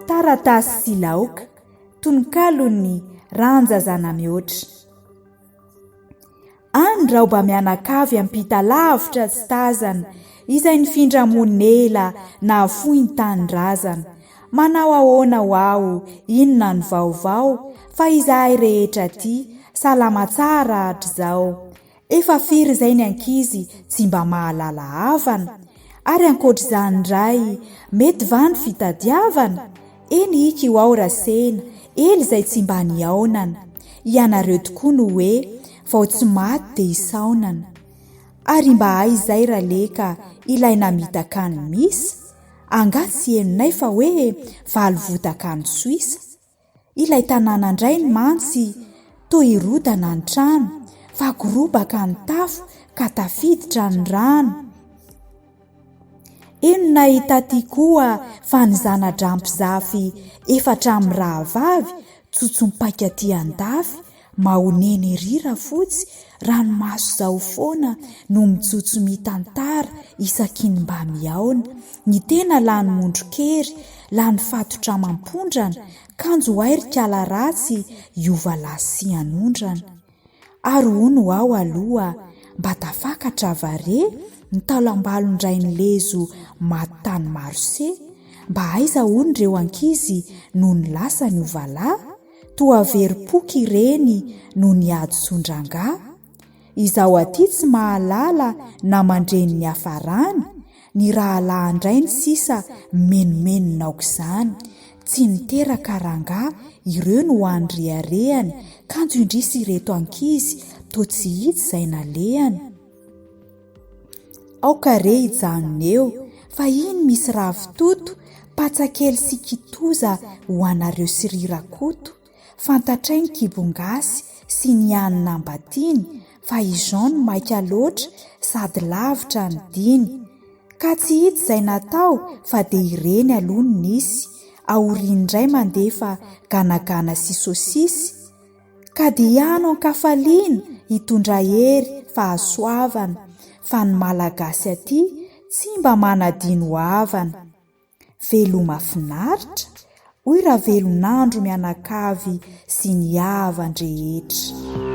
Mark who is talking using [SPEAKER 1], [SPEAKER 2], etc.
[SPEAKER 1] Taratasy sy laoka, tononkalon'ny Randja Zanamihoatra. Any raoba mianakavy ampita lavitra tsy tazana, izay nifindra monina ela nahafoy ny tanindrazana. Manao ahoana ho aho, inona ny vaovao, fa izahay rehetra aty, salama tsara hatrizao. Efa firy izay ny ankizy tsy mba mahalala havana? Ary ankoatr'izany indray, mety va ny fitadiavana? Eny ika io ao Rasena, ela izay tsy mba nihaonana. Ianareo tokoa no hoe, vao tsy maty dia hisaonana. Ary mba hay izay Raleka, ilay namitaka an'i Misa? Angaha tsy henonay fa hoe valo votaka any Soisa? Ilay tanàna indray mantsy toa hirodana ny trano fa gorobaka ny tafo ka tafiditra ny rano. Eny nahita aty koa fa ny zana-draha mpizafy efatra mirahavavy tsotso-paika aty an-dafy. Mahonena ery Rafotsy, ranomaso zao foana no mijotso mitantara isaky ny mba mihaona, ny tena lany mondron-kery, lany fatotra amam-pondrana, kanjo hay ry kala ratsy hiova lasy sy hanondrana. Ary hono aho aloha mba tafakatra va re ny taolam-balon-drain'i Lezo maty tany Marosey, mba aiza hono ireo ankizy nony lasa niova lahy? Toa very poky ireny noho ny hadisoan-drangahy? Izaho aty tsy mahalala na mandre ny niafarany, ny rahalahan-drainy sisa mimenomenona aok'izany. Tsy niteraka rangahy ireo no hany reharehany, kanjo indrisy ireto ankizy, toa tsy hita izay nalehany. Aoka re hijanona eo fa iny misy ravitoto, patsa kely sy kitoza ho anareo sy ry Rakoto, fantatray ny kibongasy sy ny hany nambatiany fa i Jean no maika loatra sady lavitra ny diny. Ka tsy hita izay natao fa dia ireny aloha no nisy, aoriany indray mandefa ganagana sy sosisy, Ka dia ano an-kafaliana hitondra hery fahasoavana fa ny Malagasy aty tsy mba manadino havana. Veloma finaritra, hoy Ravelonandro mianakavy sy ny havan-drehetra.